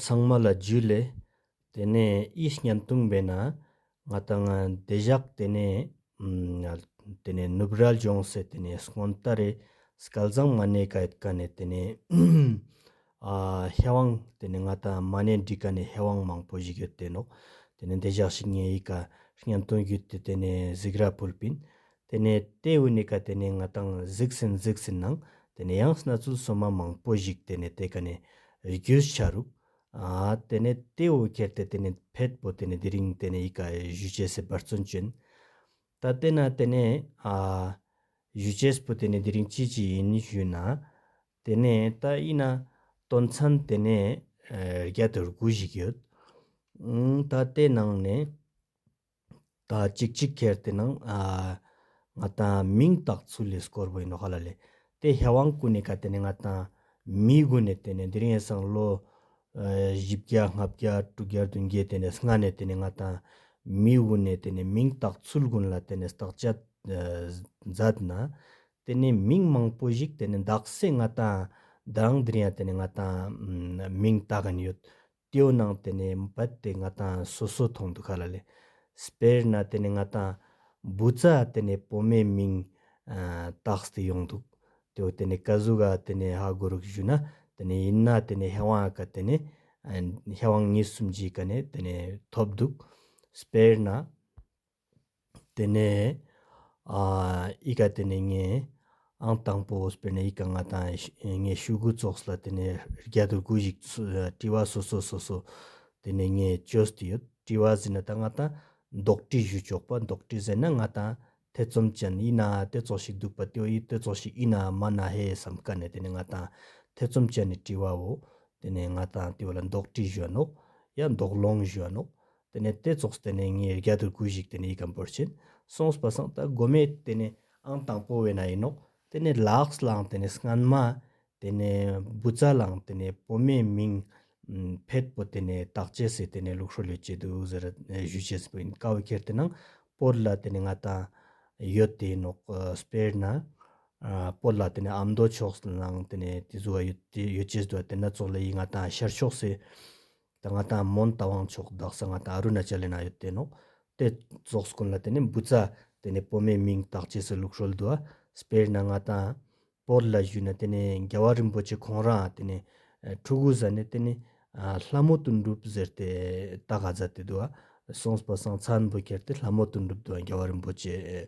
ཚང་མ་ལ་རྒྱུས་ལས། དེ་ནས་ཨི་སྙན་དུང་བས་ན། ང་དང་བདེ་བཞག་དེ་ནས། དེ་ནས་ནུབ་རལ་ལྗོངས་སེ་དེ་ནས་སྔོན་རྟ་རེ། སྐལ་བཟང་མ་ནེ་ཀ་ཡིད་ཀ་ནས་དེ་ནས། ཧེ་བང་དེ་ནས་ང་དང་མ་ནེ་འདྲིས་ཀ་ནས་ཧེ་བང་མང་པོ་ཞིག་ཡོད་དེ་ནོ། དེ་ནས་བདེ་བཞག་ཞིག་ངེ་ཡིད་ཀ་སྙན་དུང་བརྒྱུད་དེ་དེ་ནས་གཟིགས་ར་བུལ་པིན། དེ་ནས་ཏེ་ཝི་ནི་ཀ་དེ་ནས་ང་དང་གཟིགས་ཟིན་གཟིགས་ཟིན་ནང་དེ་ནས་ཡང་སྣ་ཚུལ་སོ་མ་མང་པོ་བཞིག་དེ་ནས་ཏེ་ཀ་ནས་རྒྱུས་ཆ་རུག། དེ་ནས་ཏེ་ཝི་ཁེར་ཏེ་དེ་ནས་ཕེད་པོ་དེ་ནས་དེ་རིང་དེ་ནས་ཡི་ཀ་གཞུ་ཆེ་སེ་འབར་བརྩོན་ཅན། ད་དེ་ན་དེ་ནས་གཞུ་ཆེ་སྤུ་དེ་ནས་དེ་རིང་ཅི་ཅི་ཡིན་ཞུས་ན། དེ་ནས་ད་ཨི་ན་དོན་མཚན་དེ་ནས་རྒྱ་དུར་གུ་བཞིག་ཡོད། ད་དེ་ནང་ནས། ད་ཅིག་ཅིག་ཁྱེར་དེ་ནང་ང་དང་མིང་བཏགས་ཚུལ་ལས་སྐོར་བོ་ཡིན་ནོ་ཧ་ལ་ལས། དེ་ཧེ་བང་སྐུ་ནས་ག་དེ་ནས་ང་དང་མིའི་དགོན་ནས་དེ་ནས་འདིར་ཡན་སངས་ལོ། བཞི་བརྒྱ་ལྔ་བརྒྱ་དྲུག་བརྒྱར་བདུན་བརྒྱའི་དེ་ནས་སྔ་ནས་དེ་ནས་ང་དང་མིའི་དགོན་ནས་དེ་ནས་མིང་བཏགས་ཚུལ་དགོན་ལ་དེ་ནས་བཏགས་བྱ། མཛད་ན། དེ་ནས་མིང་མང་པོ་ཞིག་དེ་ནས་འདག་སའི་ང་དང་འདི་རང་འདིར་ཡང་དེ་ནས་ང་དང་མིང་བཏགས་གིན་ཡོད། ཏེའུ་ནང་དེ་ནས་འབད་དེ་ང་དང་སོ་སོ་མཐོང་འདུག་ག་ལ་ལས། དཔེར་ན་དེ་ནས་ང་དང། འབུ་རྩ་དེ་ནས་བུ་མའི་མིང། བཏགས་སྟེ་ཡོང་འདུག་ཏེའུ་དེ་ནས་ཀ་གཟུགས་ག་དེ་ནས་ཧ་གོ་རུག་བཞུགས་ན་དེ་ནས་ཡིན་ན་དེ་ནས་ཧེ་ཝང་ཨ་ག་དེ་ནས། ཧེ་ཝང་གཉིས་གསུམ་བརྒྱའི་ག་ནས་དེ་ནས་ཐོབ་འདུག་དཔེར་ན། དེ་ནས་ཨི་ཀ་དེ་ནས་ངས་ཨང་དང་པོ་སྤེལ་ནས་ཨི་ཀ་ང་དང་ངའི་ཤུལ་གུ་ཙོགས་ལ་དེ་ནས་རྒྱ་དུར་གུ་ཞིག་བཀྲི་བ་སོ་སོ་སོ་སོ་དེ་ནས་ངས་ཅོས་དེ་ཡོད་བཀྲི་བ་ཟིན་ན་ད་ང་དང་འདོགས་བཀྲི་བཞུ་ཆོག་པ་འདོགས་བཀྲི་ཟེར་ན་ང་དང་ཐེ་ཚོམ་ཅན་ཨི་ན་དེ་ཙོགས་ཞིག་འདུག་པ་དེའོ་ཨི་དེ་ཙོགས་ཞིག་ཨི་ན་མ་ན་ཧེ་བསམ་དཀའ་ནས་དེ་ནས་ང་དང་ཐེ་ཚོམ་ཅན་ནས་བཀྲི་བའོ་དེ་ནས་ང་དང་དེ་བ་ལ་འདོགས་བཀྲི་བཞུ་བ་ནོག་ཡ་འདོགས་སློང་བཞུ་བ་ནོག་དེ་ནས་དེ་རྫོགས་སུ་དེ་ནས་ངའི་རྒྱ་དུར་གུས་ཤིག་དེ་ནས་ཡིད་གམ་པོར་བྱིན། གསུངས་པ་སངས་ད་གོ་མེད་དེ་ནས་ཨང་དང་པོ་བས་ན་ཡིན་ནོ། དེ་ནས་ལགས་སླང་དེ་ནས་སྔན་མ། དེ་ནས་བུ་བཙའ་སླང་དེ་ནས་བུ་མེད་མིང། བེད་པོ་དེ་ནས་བདག་བྱས་སེ་དེ་ནས་ལུག་ཧྲོ་ལོས་བྱས་དུ་ཟེར་བཞུད་བྱས་སེ་པོ་ཡིན་ཀ་བུ་ཁྱེར་དེ་ནང་པོར་ལ་དེ་ནས་ང་དང། ཡོད་དེ་ནོག་སྤེར་ན། པོར་ལ་དེ་ནས་ཨམ་མདོ་ཕྱོགས་སུ་སླང་དེ་ནས་དེ་བཟོ་བ་ཡོད་བྱས་སྡོད་དེ་ན་ཙོག་ལ་ཡིས་ང་དང་ཤར་ཕྱོགས་སེ། ད་ང་ད་མོན་ད་བང་ཆོག་གདགས་ས་ང་ད་ཨ་རུ་ན་ཅལ་ལེ་ན་ཡོད་དེ་ནོག་དེ་རྫོགས་སྐོན་ལ་དེ་ནས་འབུ་ཚ་དེ་ནས་པོ་མའི་མིང་བཏགས་རྗེས་སུ་ལུགས་ཧྲོལ་དུ་སྤེར་ན་ང་ད་པོར་ལ་བཞུས་ན་དེ་ནས་རྒྱལ་བ་རིན་པོ་ཆེ་ཁོང་རང་དེ་ནས་ཕྲུ་གུ་ཟ་ནས་དེ་ནས་ལྷ་མོ་དུ་འགྲུབ་ཟེར་ཏེ་ད་ག་ཛ་དེ་དུ་སོང་སྤ་སང་ཚ་འབུ་ཁྱེར་ཏེ་ལྷ་མོ་དུ་འགྲུབ་དུ་རྒྱལ་བ་རིན་པོ་ཆེ།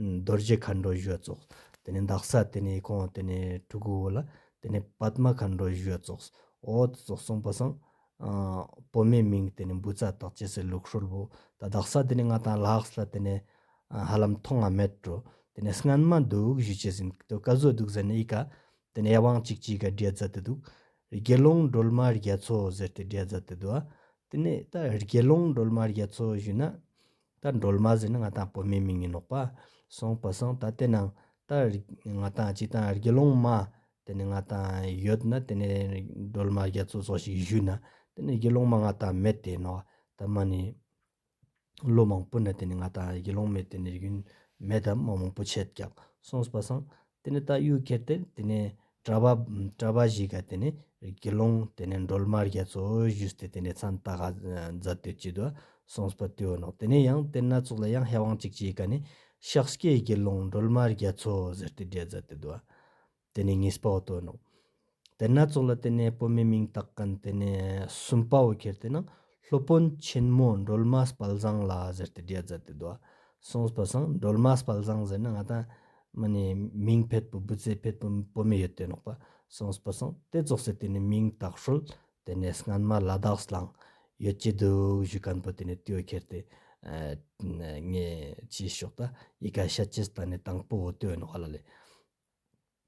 རྡོ་རྗེ་མཁའ་འགྲོ་བཞུགས་རྫོགས། དེ་ནས་འདག་ས་དེ་ནས་གང་དེ་ནས་གྲུ་གུ་བོ་ལ། དེ་ནས་པདྨ་མཁའ་འགྲོ་བཞུགས་རྫོགས། འོ་དེ་རྫོགས་སོང་པ་སང། བུ་མོའི་མིང་དེ་ནས་འབུ་ཚ་དག་ཅེས་སེ་ལུག་ཧྲོལ་བོ། ད་འདག་ས་དེ་ནས་ང་དང་ལགས་སླ་དེ་ནས། ཧ་ལམ་མཐོང་ང་མེད་འགྲོ། དེ་ནས་སྔན་མ་འདུག་བཞུད་བྱེད་ཟིན་ཏོ་ཀ་བཟོ་འདུག་ཟེར་ནས་ཨི་ཀ། དེ་ནས་དབང་ཅིག་ཅིག་ག་བསྒྲལ་རྫ་དེ་འདུག། དགེ་སློང་སྒྲོལ་མ་རྒྱལ་མཚོ་ཟེར་ཏེ་བསྒྲལ་རྫ་དེ་འདུག་ཨ། དེ་ནས་ད་དགེ་སློང་སྒྲོལ་མ་རྒྱལ་མཚོ་བཞུད་ན། ད་འགྲོལ་མ་ཟིན་ང་དང་སྤོ་མེ་མི་ངན་ནོག་པ། སོང་པོ་སོང་ད་དེ་ནང་ད་ང་དང་གཅིག་དང་དགེ་སློང་མ་དེ་ནས་ང་དང་ཡོད་ན་དེ་ནས་འགྲོལ་མ་རྒྱ་མཚོ་སོགས་ཞིག་བཞུད་ན་དེ་ནས་དགེ་སློང་མ་ང་དང་མེད་དེ་ནོག་ད་མ་ནི། ལོ་མང་པོ་ན་དེ་ནས་ང་དང་དགེ་སློང་མས་དེ་ནས་རྒྱུན་མེད་དམ་མ་མང་པོ་ཆད་བརྒྱག་སོང་པོ་སོང་དེ་ནས་ད་གཡུག་ཁྱེར་ཏེ་དེ་ནས་བྲ་བ། བྲ་བ་ཞིག་ག་དེ་ནས་དགེ་སློང་དེ་ནས་འགྲོལ་མར་རྒྱ་མཚོ་བཞུས་ཏེ་དེ་ནས་ཚ་མདའ་ཧ་ཛ་སྟོད་བསྐྱིད་དུ་སོངས་པ་དུས་བ་ནོ་དེ་ནས་ཡང་དེ་སྣ་ཚོགས་ལ་ཡང་ཧེ་དབང་ཅིག་ཅེས་ག་ནས་ཤགས་སྐྱའི་དགེ་སློང་འགྲོལ་མར་རྒྱ་མཚོ་ཟེར་ཏེ་བསྒྲལ་ཛ་སྟོད་དུ་བ་དེ་ནས་ངེས་པའོ་དུ་བ་ནོ། དེ་སྣ་ཚོགས་ལ་བརྟེན་ནས་སྤོས་མེ་མིང་བཏགས་ཀན་དེ་ནས་སུམ་པ་བོ་ཁྱེར་ཏེ་ན་སློབ་དཔོན་ཆེན་མོ་འགྲོལ་མ་སྤལ་བཟང་ལ་ཟེར་ཏེ་བརྒྱད་བཟའ་སྟེ་བཟློག། སོང་སྤོས་བཟང་འགྲོལ་མ་སྤལ་བཟང་ཟེར་ན་ང་ད་མི་ནས་མིང་ཕེད་པོ་བུ་ཚའི་ཕེད་པོ་སྤོས་མེ་ཡོད་དེ་ནོག་པ་སོང་སྤོས་བཟང་དེ་རྫོགས་སའི་དེ་ནས་མིང་བཏགས་ཧྲོལ་དེ་ནས་སྔན་མ་ལ་དྭགས་སུ་ལངས་ཡོད་ཀྱི་འདུག་བཞུགས་ཀན་པོ་དེ་ནས་སྟོད་ཁྱེར་ཏེ་ངེད་ཀྱིས་ཕྱོགས་ད་ཡི་ག་ཤ་ཅི་སྟ་ནས་དང་པོ་བོ་སྟོད་ནོག་ལ་ལས།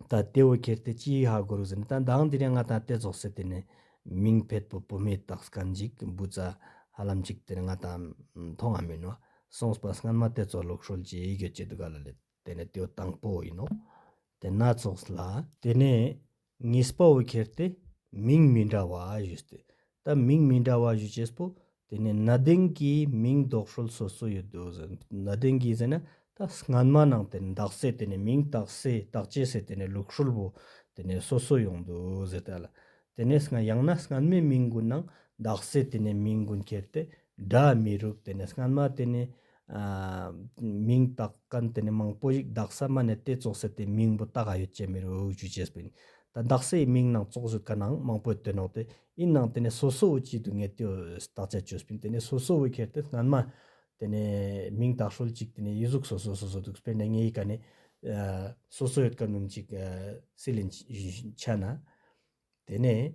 ད་ལྟེ་བོ་ཁྱེར་ཏེ་ཅི་ཡིག་ཧ་གོ་རུ་ཟིན་ད་གདངས་འདི་རེ་ང་དང་ལྟེ་ཟོག་སེ་དེ་ནས་མིང་ཕེད་པོ་པོ་མེ་སྟག་སྐ་འཇིག་འབུ་ཙ་ཧ་ལམ་ཅིག་དེར་ང་དང་མཐོང་ང་མིན་ནོ་གསུངས་པ་སྔར་མ་ལྟེ་ཚོགས་ལོག་ཧྲོལ་གྱི་ཡི་གེ་སྐྱེ་དུ་ག་ལ་ལེ་དེ་ནས་ལྟེ་བོ་དང་པོ་ཡིན་ནོ་དེ་སྣ་ཚོགས་ལ། དེ་ནས་ངེས་པ་བོ་ཁྱེར་ཏེ་མིང་མི་འདྲ་བ་བཞུ་སྟེ། ད་མིང་མི་འདྲ་བ་བཞུ་བྱས་པོ། དེ་ནས་གནའ་དེང་གི་མིང་འདོགས་སྲོལ་སོ་སོ་ཡོད་དོ་ཟེར། གནའ་དེང་གི་ཟེར་ན་ད་སྔོན་མ་ནང་དེར་འདག་སྲེད་དེ་ནས་མིང་བཏགས་སྲེད་བཏགས་བྱས་སྲེད་དེ་ནས་ལུགས་སྲོལ་བོ། དེ་ནས་སོ་སོ་ཡོང་དོ་ཟེར་ད་ལ། དེ་ནས་སྔ་ཡང་ན་སྔོན་མའི་མིང་དགུ་ནང་འདག་སྲེད་དེ་ནས་མིང་དགུ་འཁྱེར་ཏེ་སྒྲ་མི་རུབ་དེ་ནས་སྔོན་མ་དེ་ནས། མིང་བཏགས་གན་དེ་ནས་མང་པོ་ཞིག་གདགས་ས་མ་ནས་དེ་བཙོག་ས་དེ་མིང་བུ་བཏགས་ཡོད་ཅེས་མི་རུ་འུག་ཆུ་ཆེས་པིན། ད་གདགས་སའི་མིང་ནང་བཙོག་བཟོས་ག་ནང་མང་པོས་དོན་འོག་དེ་ཨིན་ནང་དེ་ནས་སོ་སོ་བུ་གཅིག་ཏུ་ངེས་དེ་བཏགས་ཆ་བཅོས་པིན་དེ་ནས་སོ་སོ་བུ་ཁེར་དེ་སྔན་མ་དེ་ནས་མིང་བཏགས་ཧྲུལ་ཅིག་དེ་ནས་ཡིག་གཟུགས་སོ་སོ་སོ་སོ་འདུག་སྤེར་ནས་ངེས་ཡིག་ག་ནས་སོ་སོ་ཡོད་ག་ནུམ་ཅིག་སི་ལིན་ཆ་ན་དེ་ནས།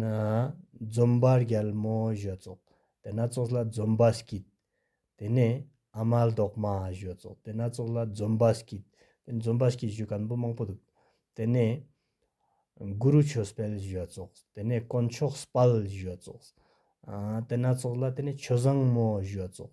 ན། འཛུམ་པ་རྒྱལ་མོ་བཞོ་ཙོག་དེ་སྣ་ཚོགས་ལ་འཛུམ་པ་སྐྱིད། དེ་ནས་ཨ་མ་ལྡོག་མ་བཞོ་ཙོག་དེ་སྣ་ཚོགས་ལ་འཛུམ་པ་སྐྱིད། དེ་འཛུམ་པ་སྐྱིད་བཞུ་གན་པོ་མང་པོ་འདུག། དེ་ནས། གུ་རུ་ཆོས་སྤེལ་བཞོ་ཙོག་དེ་ནས་དཀོན་མཆོག་སྤལ་བཞོ་ཙོག། དེ་སྣ་ཚོགས་ལ་དེ་ནས་ཆོས་བཟང་མོ་བཞོ་ཙོག།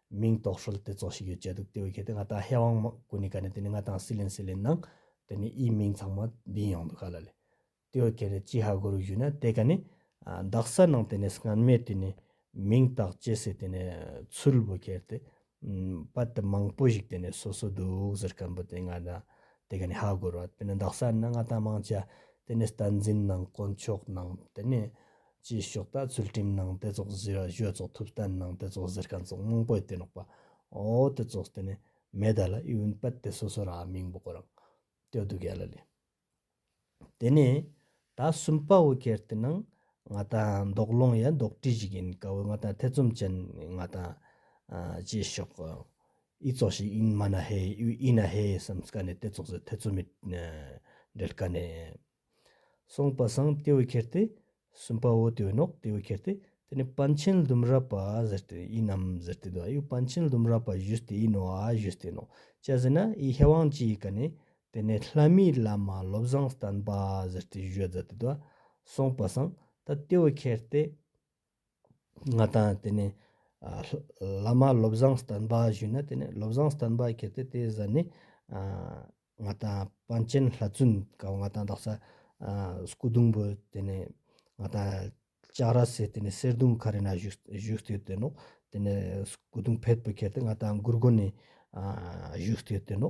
མིང་ཏོག་ཧྲུལ་དེ་ཙོག་ཞིག་ཡོད་ཅེས་འདུག་དེ་བས་གལ་ཏེ་ང་དང་ཧེ་ཝང་མ་གུ་ནི་ག་ནས་དེ་ནི་ང་དང་སི་ལིན་སི་ལིན་ནང། དེ་ནི་ཨིའི་མིང་ཚང་མ་འདིའི་ཡང་འདུག་ག་ལ་ལས། དེ་བས་གལ་ཏེ་ཅི་ཧ་གོ་རུ་བཞུད་ན་དེ་ག་ནི། འདག་ས་ནང་དེ་ནས་སྔན་མས་དེ་ནི། མིང་དག་བཅད་སའི་དེ་ནས་ཚུལ་བུ་གལ་ཏེ། པ་དེ་མང་པོ་ཞིག་དེ་ནས་སོ་སོ་འདུག་ཟེར་སྐམ་པོ་དེ་ང་དང་དེ་ག་ནི་ཧ་གོ་རུ་བ་དེ་ནི་འདག་ས་ནི་ང་དང་མང་ཆ་དེ་ནས་སྟན་འཛིན་ནང་དཀོན་མཆོག་ནང་དེ་ནི། ཅེས་ཞོགས་ལྟ་ཚུལ་ཁྲིམས་ནང་དེ་ཚོགས་བཟི་ར་གཞོད་ཚོགས་ཐུབ་བསྟན་ནང་དེ་ཚོགས་བཟིར་གན་ཚོགས་དངོས་པོའི་དེ་ནོག་པ་འོ་དེ་ཚོགས་བསྟེ་ནས་མེ་དལ་ཨི་ཝུན་པད་དེ་སོ་སོ་ར་མིང་པོ་གོ་རང་ཏོའི་དུ་གལ་ལ་ལས། དེ་ནས་ད་གསུམ་པ་བོ་གལ་དེ་ནང་ང་ད་འདོག་སློང་ཡ་འདོག་བྲིས་ཞིག་ཡིན་ག་བོ་ང་ད་ཐེ་ཚོམ་ཅན་ང་ད། ཅེས་ཞོགས་ཨི་ཚོགས་ཤིག་ཨིན་མ་ན་ཧེ་ཨི་ཝུ་ཨི་ན་ཧེ་བསམས་ག་ནས་དེ་ཚོགས་བཟི་ཐེ་ཚོ་མི་འབྲེལ་ག་ནས། གསུངས་པ་སངས་ལྟེ་བའི་ཁྱེར་ཏེ། གསུམ་པ་འོད་དེ་འོད་ནོག་ལྟེ་བའི་ཁྱེར་ཏེ། དེ་ནས་པཎ་ཆེན་ལྡུམ་ར་པ་ཟེར་ཏེ་ཡིན་ནམ་ཟེར་ཏེ་འདུག་ཨཱ་པཎ་ཆེན་ལྡུམ་ར་པ་བཞུད་དེ་ཡིན་ནོ་ཨ་བཞུད་དེ་ནོ། ཅེས་ཟེར་ན་ཨི་ཧེ་དབང་ཅི་ཡི་ཀ་ནས། དེ་ནས་ལྷ་མིའི་བླ་མ་བློ་བཟང་བསྟན་པ་ཟེར་ཏེ་བཞུད་ཟེར་ཏེ་འདུག་གསུངས་པ་སངས་ལྟེ་བའི་ཁྱེར་ཏེ། ང་དང་དེ་ནས་བླ་མ་བློ་བཟང་བསྟན་པ་ཞུས་ན་དེ་ནས་བློ་བཟང་བསྟན་པ་ཁྱེར་ཏེ་དེའི་གཟན་ནས་ང་དང་པཎ་ཆེན་ལྷ་བཙུན་སྐབས་ང་དང་རྡོག་རྩ་སྐུ་གདུང་བུ་དེ་ནས་ང་དང་ལྕགས་ར་སེ་དེ་ནས་གསེར་གདུང་ཁ་རི་ན་བཞུགས་བཞུགས་ཏེ་བསྟེན་ནོ། དེ་ནས་སྐུ་གདུང་བེར་པུ་ཁྱེར་ཏེ་ང་དང་མགུར་དགོན་ནས་བཞུགས་ཏེ་བསྟེན་ནོ།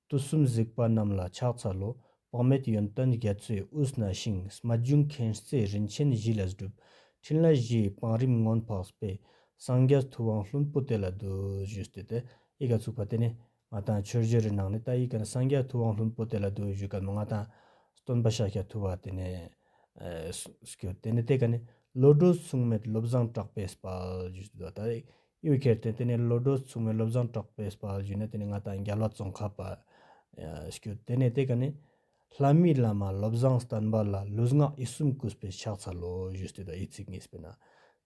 དུས་གསུམ་གཟིགས་པ་རྣམས་ལ་ཕྱག་འཚལ་ལོ། དཔག་མེད་ཡོན་ཏན་རྒྱ་མཚོས་དབུས་ན་བྱིངས། སྨྲ་བརྗོད་མཁྱེན་བརྩེ་རིན་ཆེན་བཞི་ལ་བསྒྲུབ། ཕྲིན་ལས་བཞིའི་བང་རིམ་མངོན་འཕགས་སྤེལ། སངས་རྒྱས་ཐུབ་དབང་ལྷུན་པོ་དེ་ལ་བསྡུ། བཞུགས་སྟེ་དེ་ཡི་ག་ཚུགས་པ་དེ་ནི། ང་དང་ཆོས་རྗེ་རི་ནགས་ནི་ད་ཡི་ག་ནི་སངས་རྒྱས་ཐུབ་དབང་ལྷུན་པོ་དེ་ལ་བསྡུ་བཞུགས་སྐབས་ང་དང། སྟོན་པ་ཤཱཀྱ་ཐུབ་བ་དེ་ནི། སྐྱོ། དེ་ནི་དེ་ག་ནི། བློ་གྲོས་མཚུངས་མེད་བློ་བཟང་གྲགས་པས་སྤེལ། བཞུགས་སྟེ་དེ་ལྟ་སྟེ། གཡུ་ཁྱེར་ཏེ་དེ་ནས་བློ་གྲོས་མཚུངས་མོའི་བློ་བཟང་གྲགས་པས་སྤར་བཞུགས་ནས་དེ་ནས་ང་དང་རྒྱ་བླ་ཙོང་ཁ་པ། བསྐྱོད་དེ་ནས་དེ་ག་ནས། ལྷ་མིའི་བླ་མ་བློ་བཟང་བསྟན་པ་ལ་ལུས་ངག་ཡིད་གསུམ་བསྐུལ་བའི་ཕྱག་འཚལ་ལོ་ཞུས་ཏེ་དབྱི་ཚིག་ངེས་པས་ན།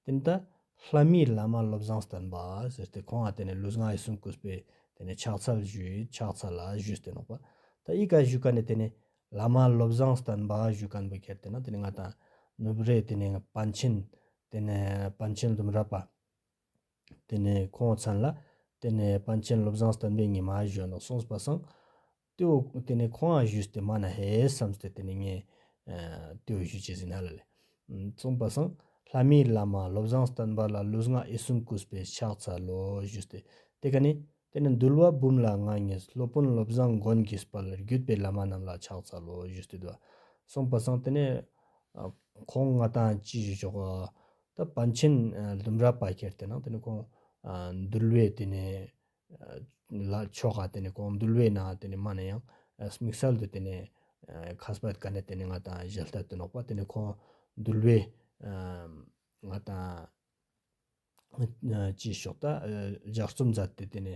དེ་ནས་ད་ལྷ་མིའི་བླ་མ་བློ་བཟང་བསྟན་པ་ཟེར་ཏེ་ཁོང་ལ་དེ་ནས་ལུས་ངག་ཡིད་གསུམ་བསྐུལ་བས་དེ་ནས་ཕྱག་འཚལ་བཞུས་ཕྱག་འཚལ་ལ་ཞུས་ཏེ་ནོག་པ། ད་དབྱི་ཀ་བཞུགས་ཀ་ནས་དེ་ནས་བླ་མ་བློ་བཟང་བསྟན་པ་བཞུགས་ཀ་འབུལ་ཁྱེར་ཏེ་ན་དེ་ནས་ང་དང། ནུབ་རེ་དེ་ནས་པཎ་ཆེན། དེ་ནས་པཎ་ཆེན་ལྡུམ་ར་པ། དེ་ནས་ཁོང་མཚན་ལ། དེ་ནས་པཎ་ཆེན་བློ་བཟང་བསྟན་པའི་ཉི་མ་བཞོན་ནོ་གསུངས་པ་སངས། ཏེའུ་དེ་ནས་ཁོང་ཡང་ཞུས་ཏེ་མ་ན་ཧེ་བསམས་ཏེ་དེ་ནས་ངས། ཏེའུ་ཞུས་བྱས་ཟིན་ཧ་ལ་ལས། གསུངས་པ་སངས། ལྷ་མིའི་བླ་མ་བློ་བཟང་བསྟན་པ་ལ་ལུས་ངག་ཨི་གསུམ་བཀུས་པས་ཕྱག་འཚལ་ལོ་ཞུས་ཏེ། དེ་ག་ནས། དེ་ནས་འདུལ་བ་འབུམ་ལ་ང་ངས་སློབ་དཔོན་བློ་བཟང་མགོན་དགྱེས་པ་ལ་བརྒྱུད་པའི་བླ་མ་རྣམས་ལ་ཕྱག་འཚལ་ལོ་ཞུས་ཏེ་བསྡུ་བ། གསུངས་པ་སངས་དེ་ནས། ཁོང་ང་དང་ཅི་ཞིག་ཞོག། ད་བན་ཆེན་ལྡུམ་ར་པ་ཁྱེར་དེ་ན་དེ་ནི་ཁོང་འདུལ་བས་དེ་ནི་ལ་ཆོ་ག་དེ་ནི་ཁོང་འདུལ་བས་ན་དེ་ནི་མ་ན་ཡང་དམིགས་བསལ་དུ་དེ་ནི་ཁ་སྦ་དཀའ་ནི་དེ་ནི་ང་དང་གཞལ་བསྟར་དུ་ནོག་པ་དེ་ནི་ཁོང་འདུལ་བས་ང་དང་ཅི་ཞོག་ད་ལྗགས་རྩོམ་མཛད་དེ་དེ་ནི་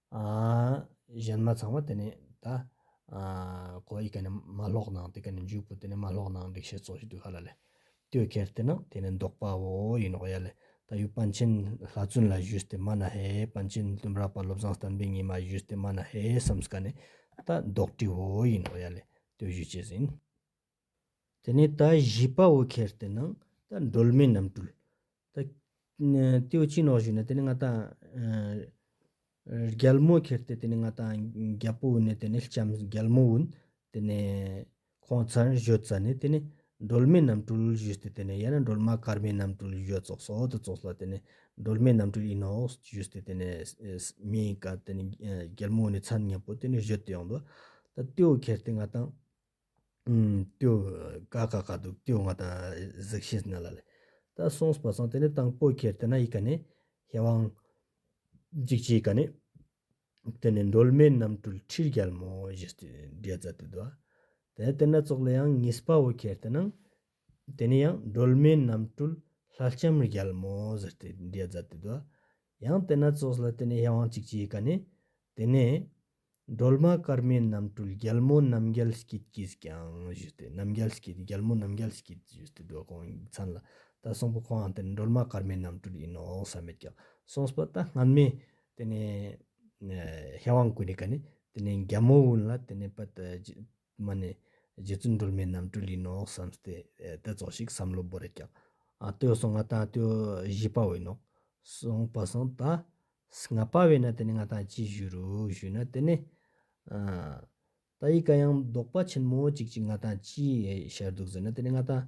གཞན་མ་ཚང་མ་དེ་ནས་ད་གོ་ཡི་ག་ནས་མ་ལྷོག་ནང་དེ་ག་ནས་འཇུག་པོ་དེ་ནས་མ་ལྷོག་ནང་འགྲིག་བྱེད་རྩོག་བྱེད་དུས་ག་ལ་ལས་ལྟོས་ཁེར་དེ་ནང་དེ་ནས་འདོགས་པ་བོ་ཡིན་ནོག་ཡ་ལས་ད་ཡུ་པན་ཆེན་ལྷ་བཙུན་ལ་བཞུས་ཏེ་མ་ན་ཧེ་པན་ཆེན་བཙུན་རག་པ་བློ་བཟང་བསྟན་པའི་ཉི་མ་བཞུས་ཏེ་མ་ན་ཧེ་བསམས་ཀ་ནས་ད་འདོགས་དྲི་བོ་ཡིན་ནོག་ཡ་ལས་ལྟོས་བཞུས་བྱེད་ཟིན། དེ་ནས་ད་བཞི་པ་བོ་ཁེར་དེ་ནང་ད་སྒྲོལ་མའི་རྣམ་སྤྲུལ། ད་ཏེའུ་སྐྱིད་ནོག་བཞུགས་ནས་དེ་ནས་ང་ད། རྒྱལ་མོ་ཁེར་དེ་དེ་ནས་ང་ད་རྒྱལ་པོ་བོན་ནས་དེ་ནས་ལྕམ་རྒྱལ་མོ་བོན། དེ་ནས་ཁོང་ཚར་བཞོད་ཙ་ནས་དེ་ནས་སྒྲོལ་མའི་རྣམ་སྤྲུལ་བཞུགས་ཏེ་དེ་ནས་ཡང་ན་སྒྲོལ་མ་སྐར་མའི་རྣམ་སྤྲུལ་བཞོད་ཙོག་སོ་དེ་ཙོག་སོ་ལ་དེ་ནས་སྒྲོལ་མའི་རྣམ་སྤྲུལ་ཨི་ནོག་བཞུགས་ཏེ་དེ་ནས་མིའི་སྐར་དེ་ནས་རྒྱལ་མོ་བོན་ནས་ཚར་ཉེ་པོ་དེ་ནས་བཞོད་དེ་ཡོང་དོ། ད་ཏེའུ་ཁེར་དེ་ང་ད། ཏུའུ། ཀ་ཀ་ཀ་ཏུ་ཏུའུ་ང་དང་གཟིགས་ཤིས་ན་ལ་ལི། ད་སོངས་པ་སོང་དེ་ནས་དང་པོ་ཁྱེར་དེ་ན་ཡི་ག་ནས། ཧེ་བང། འཇིགས་བྱེད་ཡི་ག་ནས། དེ་ནས་འགྲོལ་མེད་རྣམ་སྤྲུལ་ཁྲིར་རྒྱལ་མོ་བཞི་སྟེ་བརྒྱད་བཙའ་དུས་བསྡུ་བ། དེ་དེ་ན་ཙོག་ལི་ཡང་གཉིས་པ་བོ་ཁྱེར་དེ་ན། དེ་ནས་ཡང་འགྲོལ་མེད་རྣམ་སྤྲུལ་ལྷ་ལྕམ་རྒྱལ་མོ་བཞི་སྟེ་བརྒྱད་བཙའ་དུས་བསྡུ་བ། ཡང་དེ་ན་ཙོག་ལི་དེ་ནས་ཧེ་བང་འཇིགས་བྱེད་ཡི་ག་ནས། དེ་ནས། སྒྲོལ་མ་སྐར་མའི་རྣམ་སྤྲུལ་རྒྱལ་མོ་རྣམ་རྒྱལ་སྐྱིད་ཀྱིས་ཀྱང་ཞུས་ཏེ་རྣམ་རྒྱལ་སྐྱིད་རྒྱལ་མོ་རྣམ་རྒྱལ་སྐྱིད་ཞུས་ཏེ་སྒྲོལ་གོང་ཡིག་ཚང་ལ་ད་གསུངས་པ་ཁོང་དེ་ནི་སྒྲོལ་མ་སྐར་མའི་རྣམ་སྤྲུལ་ཡིན་ནོ་ཟེར་མོད་ཀྱང་གསུངས་པ་ད་སྔ་མས་དེ་ནས་ཤ་བང་བསྐུས་ནས་ག་ནས་དེ་ནས་རྒྱལ་མོ་བོན་ལ་དེ་ནས་པད་མ་ནི། རྗེ་བཙུན་སྒྲོལ་མའི་རྣམ་སྤྲུལ་ལུས་ནོག་བསམ་སྟེ། དེ་རྫོགས་ཤིག་བསམ་བློ་སྦོ་རེ་བཀྱག། ལྟོས་སོ་ང་དང་ལྟོས་བཞི་དཔའ་བོའི་ནོག། གསུངས་པ་གསུངས་ད། ང་དཔའ་བོས་ན་དེ་ནི་ང་དང་ཅི་ཞུ་རུ་ཞུས་ན་དེ་ནི། ད་ཡིད་ག་ཡང་བཟློག་པ་ཆེན་མོ་ཅིག་ཅིག་ང་དང་ཅི་བྱར་འདུག་ཟེར་ན་དེ་ནི་ང་དང།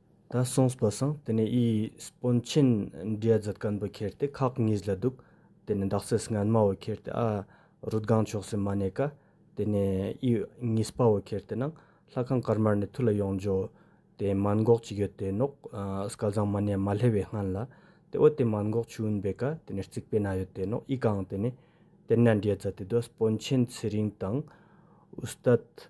ད་སོང་སྤུ་སངས་དེ་ནས་ཨི་སྤུ་མཆིན་འབྲས་རྫི་དཀར་འབུ་ཁྱེར་ཏེ་ཁག་གཉིས་ལ་འདུག་དེ་ནས་འདག་སེ་སྔན་མ་བོ་ཁྱེར་ཏེ་ཨ་རུ་སྒང་ཕྱོགས་སུ་མ་གནས་ཀ་དེ་ནས་ཨི་གཉིས་སྤ་བོ་ཁྱེར་ཏེ་ནང་ལྷ་ཁང་དཀར་དམར་ནས་ཐུ་ལ་ཡོང་འཇོག་དེ་མཱན་འགོག་ཅིག་ཡོད་དེ་ནོག་སྐལ་བཟང་མ་གནས་མ་ལྷེ་བའི་སྔན་ལ་དེ་འོད་དེ་མཱན་འགོག་ཆུ་འུན་བེ་ཀ་དེ་ནས་རྩིག་པའི་ན་ཡོད་དེ་ནོག་ཨི་གང་དེ་ནས་དེ་ན་འབྲས་རྫི་དེ་དུ་སྤུ་མཆིན་ཚེ་རིང་དང་ཨུ་སྟ་ཏི།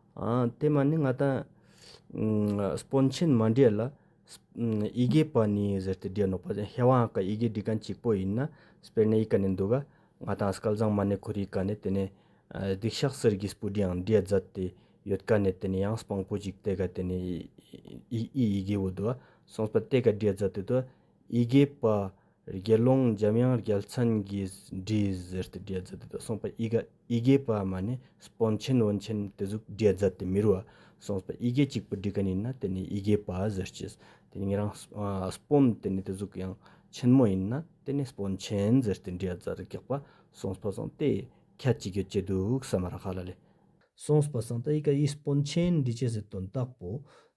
དེ་མ་ནི་ང་ད་སྤོན་ཆེན་མ་འདྲེས་ལ་ཡི་གེ་པ་ནི་ཟེར་ཏེ་སྦྲེལ་ནོ་པ་ཟེར་ཧེ་བང་ག་ཡི་གེ་འབྲི་མཁན་གཅིག་པོ་ཡིན་ན་སྤེར་ནས་ཡི་ག་ནས་འདུག་ག་ང་ད་སྐལ་བཟང་མ་ནི་ཁོར་ཡི་ག་ནས་དེ་ནས་སྡིག་ཤག་སེར་གྱི་སྤུ་གྲི་ཡང་འདྲེས་རྫ་དེ་ཡོད་ག་ནས་དེ་ནས་ཡང་སྤང་པོ་གཅིག་དེ་ག་དེ་ནས་ཨི་ཡི་གེ་བོ་དུ་བ་སོང་སྤ་དེ་ག་འདྲེས་རྫ་དེ་དུ་ཡི་གེ་པ། དགེ་སློང་འཇམ་དབྱངས་རྒྱལ་མཚན་གྱིས་དྲིས་གཟིར་ཏེ་བསྒྲལ་མཛད་དེ་དག་གསུངས་པ་ཨི་དགའ་ཨི་དགེ་བ་མ་ནི་སྤོན་ཆེན་བོན་ཆེན་དེ་གཟུགས་བསྒྲལ་མཛད་དེ་མི་རུ་བ་གསུངས་པ་ཨི་དགེ་གཅིག་པུ་འདྲི་ག་ནི་ཡིན་ན་དེ་ནི་ཨི་དགེ་བ་གཟིར་གྱིས་དེ་ནི་ངེད་རང་སྤོན་དེ་ནི་དེ་གཟུགས་ཡང་ཆེན་མོ་ཡིན་ན་དེ་ནི་སྤོན་ཆེན་གཟིར་ཏེ་བསྒྲལ་མཛད་དེ་གེགས་པ་གསུངས་པ་བཟང་སྟེ་ཁྱད་ཅིག་ཡོད་ཀྱི་འདུག་ས་མ་ར་ཧ་ལ་ལས། གསུངས་པ་བཟང་སྟེ་ཨི་དགའ་ཨི་སྤོན་ཆེན་འདྲི་གཅིག་གཟིར་དོན་དག་པོ་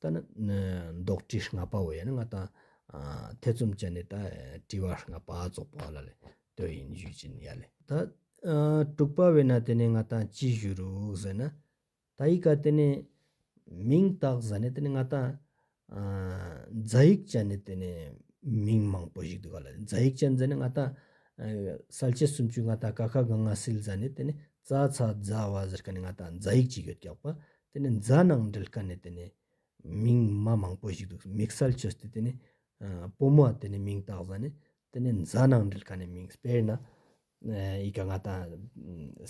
ད་ནི་འདོགས་བྲིས་ལྔ་པ་བས་ནི་ང་དང་ཐེ་ཚོམ་བཅད་ནས་ད་བྲིས་བ་ལྔ་པ་རྫོགས་པ་ལ་ལས་དོན་ཡིན་བཞུད་ཅིང་ཡ་ལས། ད་དྲུག་པ་བས་ན་དེ་ནི་ང་དང་ཅི་བཞུད་རུག་ཟེར་ན། ད་ཡིག་ག་དེ་ནི་མིང་བཏགས་ཟ་ནས་དེ་ནི་ང་དང་རྫ་ཡིག་བཅད་ནས་དེ་ནི་མིང་མང་པོ་ཞིག་འདུག་ག་ལ་ལས་རྫ་ཡིག་བཅད་ཟ་ནས་ང་དང་གསལ་བྱེད་སུམ་ཅུ་ང་དང་ཀ་ཁ་ག་ང་སིལ་ཟ་ནས་དེ་ནི་རྩ་ཚ་རྫ་བ་ཟེར་ག་ནི་ང་དང་རྫ་ཡིག་ཅིག་ཡོད་ཀྱག་པ་དེ་ནི་རྫ་ནང་འདྲིལ་དཀའ་ནི་དེ་ནི་མིང་མ་མང་པོ་ཞིག་འདུག་མིག་སལ་ཆུ་སྟེ་དེ་ནི་སྤོ་མ་དེ་ནི་མིང་བཏགས་ཟ་ནི་དེ་ནི་རྫ་ནང་འདྲིལ་དཀའ་ནི་མིང་སྤེར་ན་ཡི་ག་ང་དང་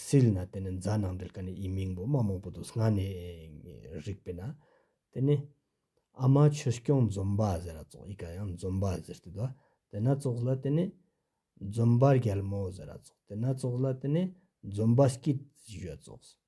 སིལ་ན་དེ་ནི་རྫ་ནང་འདྲིལ་དཀའ་ནི་ཡི་མིང་པོ་མ་མང་པོ་འདུག་སྔ་ནས་རིག་པས་ན་དེ་ནི་ཨ་མ་ཆུ་སྐྱོང་འཛོམ་པ་ཟེར་ར་ཙོག་ཡི་ག་ཡང་འཛོམ་པ་ཟེར་ཏེ་དོ་དེ་ན་ཙོག་ལ་དེ་ནི་འཛོམ་པ་རྒྱལ་མོ་ཟེར་ར་ཙོག་དེ་ན་ཙོག་ལ་དེ་ནི་འཛོམ་པ་སྐྱིད་ཞོད་ཙོག་ཟེར།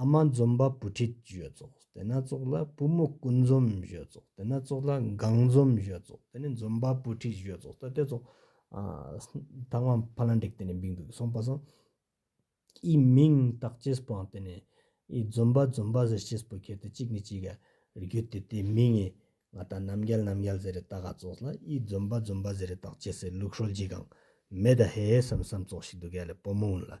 ཨ་མ་འཛོམས་པ་བུ་ཁྲིད་གཞོལ་ཙོག་དེ་ན་ཙོག་ལ་བུ་མོ་སྐུ་འཛོམས་གཞོལ་ཙོག་དེ་ན་ཙོག་ལ་གངས་འཛོམས་གཞོལ་ཙོག་དེ་ནས་འཛོམས་པ་བུ་ཁྲིད་གཞོལ་ཙོག་ད་དེ་ཙོག་ད་ང་ཕ་ལ་འདྲེག་དེ་ནས་འབིག་འདུག་སོང་པ་སོང། ཨི་མིང་བཏགས་ཅེས་སྤང་དེ་ནས་ཨི་འཛོམས་པ་འཛོམས་པ་ཟེར་ཅེས་བུ་ཁྱེར་དེ་གཅིག་ནས་གཅིག་ག་རེ་རྒྱུད་དེ་དེ་མིང་ངས་ང་ད་ནམ་རྒྱལ་ནམ་རྒྱལ་ཟེར་རེ་བཏགས་ག་ཙོག་ལ་ཨི་འཛོམས་པ་འཛོམས་པ་ཟེར་རེ་བཏགས་ཅེས་སེ་ལུག་ཧྲོལ་གྱིས་གང་མེད་ད་ཧེ་ཧེ་བསམ་བསམ་ཙོག་ཞིག་འདུག་ག་ལ་བུ་མོ་ཨུན་ལ།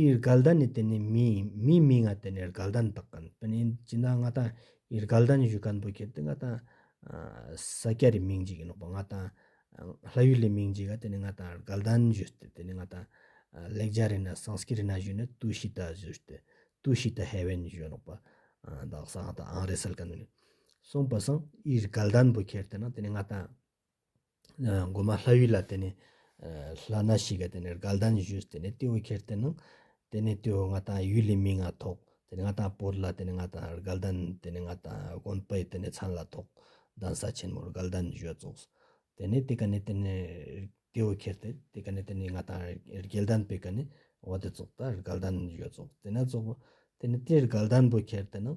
ཨིར་གལ་དན་ནི་དེ་ནི་མི་ཡིན་མིའི་མིང་ང་དེ་ནི་ཨིར་གལ་དན་དག་གན་པན་ཡིན་ཅི་ན་ང་དང་ཨིར་གལ་དན་བཞུགས་གན་པོ་ཁྱེར་དེ་ང་དང་ས་སྐྱ་རི་མིང་འཇིག་ཡིན་ནོག་པ་ང་དང་ལྷ་ཡུལ་ལི་མིང་འཇིག་ག་དེ་ནི་ང་དང་ཨིར་གལ་དན་བཞུགས་ཏེ་དེ་ནི་ང་དང་ལེགས་རྒྱ་རི་ན་སང་སྐྱི་རི་ན་བཞུགས་ནི་ཏུའུ་ཤི་ཏ་བཞུགས་ཏེ་ཏུའུ་ཤི་ཏ་ཧེ་བན་བཞུགས་ནོག་པ་དག་ས་ང་དང་ཨང་རེ་སལ་གན་ནི་སོང་པ་སང་ཨིར་གལ་དན་པོ་ཁྱེར་དེ་ན་དེ་ནི་ང་དང། སྒོ་མ་ལྷ་ཡུལ་ལ་དེ་ནས་ལྷ་སྣ་ཞིག་ག་དེ་ནས་རྒ་ལྡན་བཞུས་སུ་དེ་ནས་ཏེའུ་ཁྱེར་དེ་ནང་དེ་ནས་ཏེའུ་ང་དང་ཡུལ་ལས་མི་ང་ཐོག་དེ་ནས་ང་དང་བོར་ལ་དེ་ནས་ང་དང་རྒ་ལྡན་དེ་ནས་ང་དང་དགོན་པའི་དེ་ནས་ཚང་ལ་ཐོག་གདན་ས་ཆེན་མོར་རྒ་ལྡན་བཞུས་རྫོགས་སོ། དེ་ནས་དེ་ག་ནས་དེ་ནས་ཏེའུ་ཁྱེར་དེ་དེ་ག་ནས་དེ་ནས་ང་དང་རྒྱལ་ལྡན་པའི་ག་ནས་བ་དེ་རྫོགས་ད་རྒ་ལྡན་བཞུས་རྫོགས་དེ་ནས་རྫོགས་པ་དེ་ནས་དེ་རྒ་ལྡན་བུ་ཁྱེར་དེ་ནང་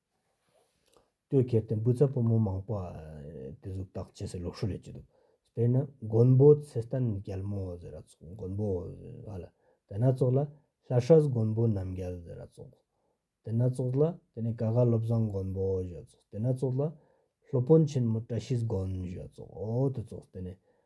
ལྟོས་ཁེར་དེ་འབུ་ཚ་པོ་མོ་མང་པོ་དེ་གཟུགས་བཏགས་ཇི་སྲིད་ལོག་སྲོལ་ལས་ཀྱི་འདུག་དཔེར་ན་མགོན་པོ་ཚེ་བརྟན་རྒྱལ་མོ་ཟེར་ར་ཚོགས་མགོན་པོ་ཨ་ལ་དེ་སྣ་ཚོགས་ལ་ལྷ་ཧྲལ་མགོན་པོ་རྣམ་རྒྱལ་ཟེར་ར་ཚོགས་དེ་སྣ་ཚོགས་ལ་དེ་ནས་ཀ་ག་བློ་བཟང་མགོན་པོ་ཞེས་ཚོགས་དེ་སྣ་ཚོགས་ལ་ལྷོ་དཔོན་ཆེན་མོ་བཀྲ་ཤིས་དགོན་ཞེས་ཚོགས་འོ་དེ་ཚོགས་དེ་ནས་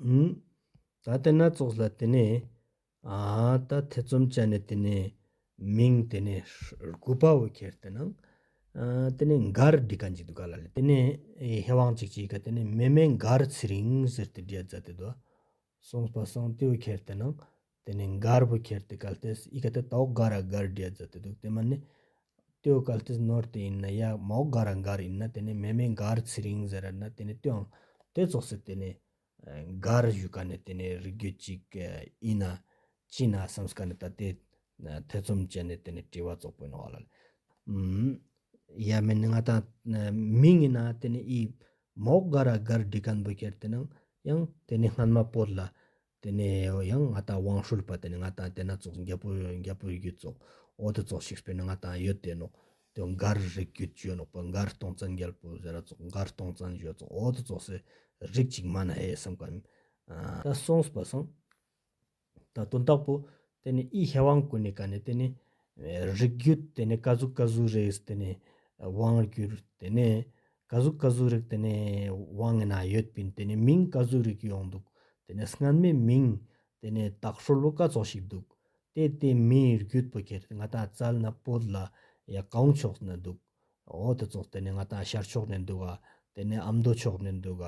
ཨུན། ད་དེ་སྣ་ཚོགས་ལ་དེ་ནས། ད་ཐེ་ཚོམ་བཅད་ནས་དེ་ནས། མིང་དེ་ནས་ཧྲཱུྃ་དཔའ་བོ་ཁྱེར་དེ་ན། དེ་ནས་མགར་འདི་ག་འཇིག་དུ་ག་ལ་ལས་དེ་ནས། ཧེ་བང་ཅིག་ཅིག་ག་དེ་ནས་མེ་མེ་མགར་ཚེ་རིང་ཟེར་དེ་རྒྱལ་བཙའ་དེ་དོ། སོང་སྤ་སང་ཏེའུ་ཁྱེར་དེ་ན། དེ་ནས་མགར་བུ་ཁྱེར་ཏེ་གལ་ཏེ་ཡི་གེ་དེ་དྭོགས་དགའ་ར་མགར་རྒྱལ་མཛད་དེ་འདུག་དེ་མ་ནི། ལྟོས་གལ་ཏེ་ནོར་དེ་ཡིན་ན་ཡ་མ་འོག་དགའ་ར་མགར་ཡིན་ན་དེ་ནས་མེ་མེ་མགར་ཚེ་རིང་ཟེར་ར་ན་དེ་ནས་ལྟོས་ཨང་དེ་རྫོགས་ཚེ་དེ་ནས། མགར་བཞུགས་ཀ་ནས་དེ་ནས་རིགས་རྒྱུད་ཅིག་ཡིན་ན། ཅི་ན་བསམས་ཀ་ནས་ད་དེ། ཐེ་ཚོམ་བྱས་ནས་དེ་ནས་དྲི་བ་རྫོགས་པོ་གནང་བ་ལ། ཡ་མེ་ནི་ང་དང་མི་ངེ་ན་དེ་ནས་ཡི་མ་འོག་དགའ་ར་མགར་འདྲི་ག་འབུ་ཁྱེར་དེ་ནང་ཡང་དེ་ནས་སྔན་མ་བོད་ལ། དེ་ནས་ཡང་ང་དང་ཝང་ཧྲུལ་པ་དེ་ནས་ང་དང་དེ་ན་ཙོག་རྒྱལ་པོ་རྒྱལ་པོ་ཡོད་ཙོག་འོ་དེ་ཙོག་ཤིག་སྤེལ་ནས་ང་དང་ཡོད་དེ་ནོག་དེ་མགར་རིགས་རྒྱུད་བཅོས་ནོག་པ་མགར་སྟོང་ཙན་རྒྱལ་པོ་ཟེར་ར་ཙོག་མགར་སྟོང་ཙན་བཞོ་ཙོག་འོ་དེ་ཙོག་སེ་རིགས་གཅིག་མ་ན་ཧེ་བསམ་ག་མི་ད་སོང་སྤ་སང་ད་དོན་དག་པོ་དེ་ནས་ཨི་ཧེ་ཝང་ཀུ་ནི་ཀ་ནི་དེ་ནི་རིགས་རྒྱུད་དེ་ནས་ཀ་ཟུག་ཀ་ཟུག་རེས་དེ་ནས་ཝང་རྒྱུད་དེ་ནས་བཀའ་གཟུགས་བཀའ་གཟུགས་རིགས་དེ་ནི་དབང་ངེ་ན་ཡོད་པའི་དེ་ནི་མིང་བཀའ་གཟུགས་རིགས་ཡོང་འདུག་དེ་ནི་སྔར་མེད་མིང་དེ་ནི་དྭགས་ཧྲོལ་བོ་ཀ་ཙོག་ཞིག་འདུག་དེ་ལྟའི་མིའི་རྒྱུད་པོ་ཁྱེར་ང་དང་རྩལ་ན་པོད་ལ་ཡ་གོང་ཕྱོགས་ནས་འདུག་འོ་དེ་ཙོག་དེ་ནི་ང་དང་ཤར་ཕྱོགས་ནས་འདུག་ག་དེ་ནི་ཨ་མདོ་ཕྱོགས་ནས་འདུག་ག་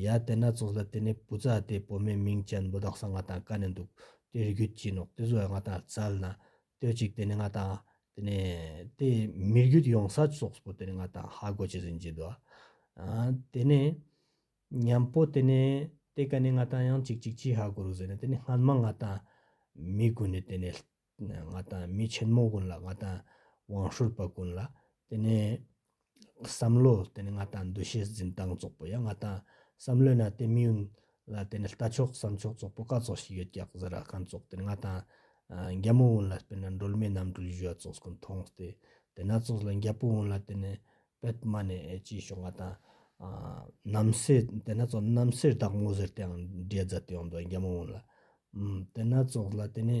ཡ་དེ་ན་ཙོག་ལ་དེ་ནི་བུ་ཙ་དེ་བོད་མའི་མིང་ཅན་བུ་དྭགས་ས་ང་དང་ཀ་ནས་འདུག་དེ་རྒྱུད་ཀྱིས་ནོག་དེ་བཟོ་ཡ་ང་དང་རྩལ་ན་སྟོད་ཅིག་དེ་ནི་ང་དང། དེ་ནས་དེས་མི་རྒྱུད་ཡོངས་ས་སོགས་པོ་དེ་ནི་ང་དང་ཧ་གོ་ཅི་ཟིན་གྱིས་བསྡུ། དེ་ནས་མཉམ་པོ་དེ་ནི་དེ་ག་ནི་ང་དང་ཡང་ཅིག་ཅིག་ཅིག་ཧ་གོ་རུ་ཟེར་ནས་དེ་ནི་སྔ་མ་ང་དང། མི་ཀུན་ནི་དེ་ནི། ང་དང་མི་ཆེན་མོ་ཀུན་ལ་ང་དང། བང་ཧྲུལ་པ་ཀུན་ལ་དེ་ནི། བསམ་བློ་དེ་ནི་ང་དང་འདུ་ཤེས་འཛིན་སྟངས་རྫོགས་པོ་ཡ་ང་དང་བསམ་བློའི་ནང་དེ་མི་ཡུལ་ལ་དེ་ནི་ལྟ་ཕྱོགས་བསམ་ཕྱོགས་རྫོགས་པོ་ག་ཚོགས་ཤིག་ཡོད་ཀྱག་ཟེར་ར་གང་རྫོགས་དེ་ནི་ང་དང། རྒྱ་མོ་བོན་ལ་དཔེར་ན་འགྲོལ་མེད་རྣམ་གྲོལ་བཞུ་བ་ཚོགས་སྐུ་མཐོང་སྟེ་དེ་སྣ་ཚོགས་ལ་རྒྱལ་པོ་བོན་ལ་དེ་ནི་པད་མ་ནས་སྐྱེས་ཤོག་ང་དང། རྣམ་སྲས་དེ་སྣ་ཚོགས་རྣམ་སྲས་བདག་མོ་ཟེར་དེའང་འབྲས་རྫ་དེའང་འདུག་རྒྱ་མོ་བོན་ལ། དེ་སྣ་ཚོགས་ལ་དེ་ནི།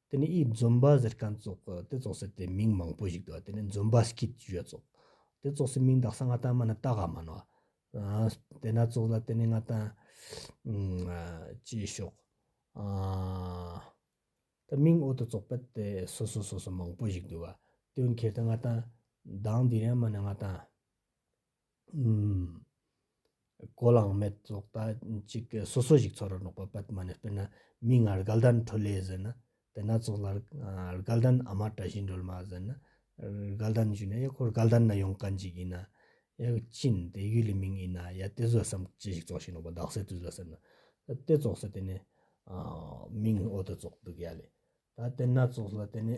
དེ་ནི་ཨིའི་འཛོམས་པ་ཟེར་གན་ཙོག་གི་དེ་ཙོག་སེ་དེ་མིང་མང་པོ་ཞིག་དུ་བ་དེ་ནི་འཛོམས་པ་སྐིད་བཞོད་ཙོག་དེ་ཙོག་སེ་མིང་དག་ས་ང་ཏན་མ་ནི་ཏག་ག་མ་ནོ་དེ་ན་ཙོག་ལ་དེ་ནི་ང་ཏན་ཅེས་ཤོག་དེ་མིང་ཨོ་དུ་ཙོག་པེ་དེ་སོ་སོ་སོ་སོ་མང་པོ་ཞིག་དུ་བ་དོན་ཁེར་དེ་ང་ཏན་དང་དེ་ཡན་མ་ནི་ང་ཏན། གོ་ལའང་མེད་བཙོག་ད་ཅིག་གི་སོ་སོ་ཞིག་འཚོ་ར་ནོག་པ་པད་མ་ནས་དཔེར་ན་མིག་སྔར་སྒལ་ལྡན་ཁྲོད་ལས་ཟིན་ན་དེ་སྣ་ཚོགས་ལ་སྒལ་ལྡན་ཨ་མ་བཀྲ་ཤིས་འགྲོལ་མ་ཟིན་ན་སྒལ་ལྡན་བཞུགས་ན་ཡ་ཁོར་སྒལ་ལྡན་ན་ཡོང་གན་ཅིག་ཡིན་ན་ཡ་ཅིན་དེ་ཡུལ་ལས་མིང་ཡིན་ན་ཡ་དེ་བཟོད་བསམ་ཅི་ཞིག་བཙོག་ཤིག་ནོག་པ་བདག་སྲས་དུས་ལ་ཟེར་ན་དེ་བཙོག་ས་དེ་ནས་མིང་ཨོ་དེ་བཙོག་འདུག་ཡ་ལས་ད་དེ་སྣ་ཚོགས་ལ་དེ་ནས།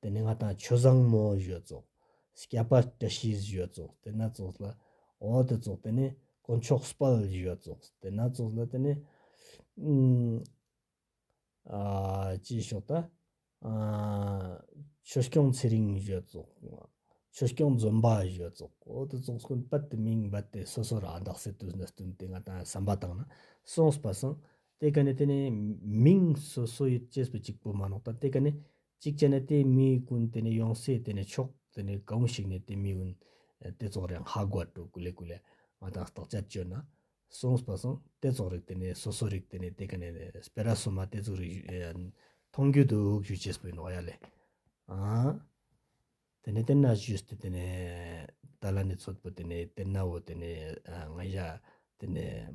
དེ་ནས་ང་དང་ཆོས་བཟང་མོ་གཞོལ་བཙོག། སྐྱ་པ་བཀྲ་ཤིས་གཞོལ་བཙོག་དེ་ནས་བཙོག་ལ། འོ་དེ་བཙོག་དེ་ནས་དཀོན་མཆོག་སྤལ་གཞོལ་བཙོག་དེ་ནས་བཙོག་ལ་དེ་ནས། ཨ། ཅེས་ཞོག་ད། ཆོས་སྐྱོང་ཚེ་རིང་གཞོལ་བཙོག། ཆོས་སྐྱོང་རྫོན་པ་གཞོལ་བཙོག་འོ་དེ་བཙོག་སྐོན་སྤལ་དེ་མིང་སྦལ་དེ་སོ་སོ་རང་བདག་སེ་དུ་ན་བསྟུན་དེ་ང་དང་བསམ་པ་དང་ན་སོང་སྤ་སང་དེ་ག་ནས་དེ་ནས་མིང་སོ་སོ་ཡོད་ཅེས་པ་གཅིག་པོ་མ་ནོག་ད་དེ་ག་ནས་གཅིག་བྱས་ནས་དེ་མི་ཀུན་དེ་ནས་ཡོང་སའི་དེ་ནས་ཆོག་དེ་ནས་ག་འུ་ཞིག་ནས་དེ་མི་ཀུན་དེ་ཚོགས་རེག་ཧ་གོ་བ་དྲུག་གུ་ལེ་གུ་ལེ་ང་དང་རྟགས་ཆར་བཅོས་ན་གསུངས་པ་སོང་དེ་ཚོགས་རེག་དེ་ནས་སོ་སོ་རེག་དེ་ནས་དེ་ག་ནས་སྤེ་ར་སོ་མ་དེ་ཚོགས་རེག་མཐོང་རྒྱུ་འདུག་ཞུ་ཅེས་པའི་ནོག་ཡ་ལས་ཨང། དེ་ནས་དེ་ན་ཞུས་ཏེ་དེ་ནས་ཏཱ་ལ་ནས་ཚོད་པོ་དེ་ནས་དེ་ན་འོ་དེ་ནས་ང་ཞག་དེ་ནས།